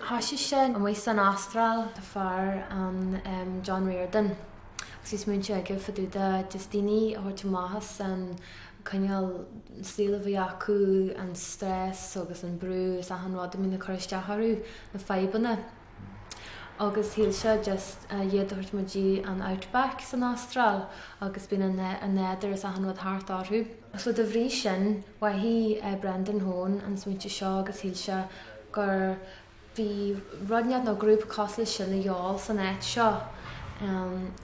Thoisigh sé amuigh san Astráil tá fear ann em John Riordan agus bhí smaointe aige fá dtaobh de just daoine a thabhairt amach as an cineál saol a bhí acu, an stress agus an brú is achan rud a mbíonn ag cur isteach orthu, na fadhbanna. Agus shíl sé just iad a thabhairt amach go dtí an outback san Astráil agus bíonn an nádúr is achan rud thart orthu. So de bhrí sin, mhothaigh Brendan Hone an smaointe seo agus shíl sé gur bhí rud inteacht nó grúpa cosúil leis sin de dhíobháil san áit seo.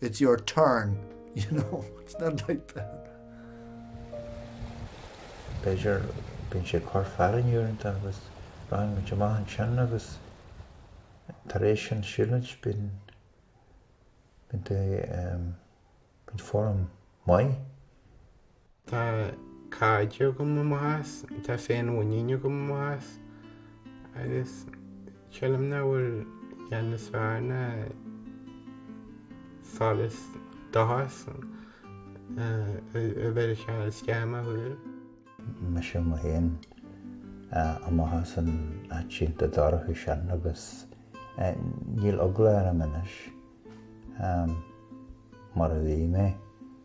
It's your turn, you know, it's not like that. B'fhéidir bíonn sé ag cur fearthainne uaireanta agus rachann muid amach ansin agus tar éis an siúlóid bíonn bíonn bíonn form maith Tá cairde agam amach as, tá féinmhuinín agam amach as agus sílim nach bhfuil a dhath níos fearr ná solas dóchas a bheith sa scéim a thug mise mé féin amach as an áit iontach dorcha sin agus níl eagla orm anois mar a bhí mé.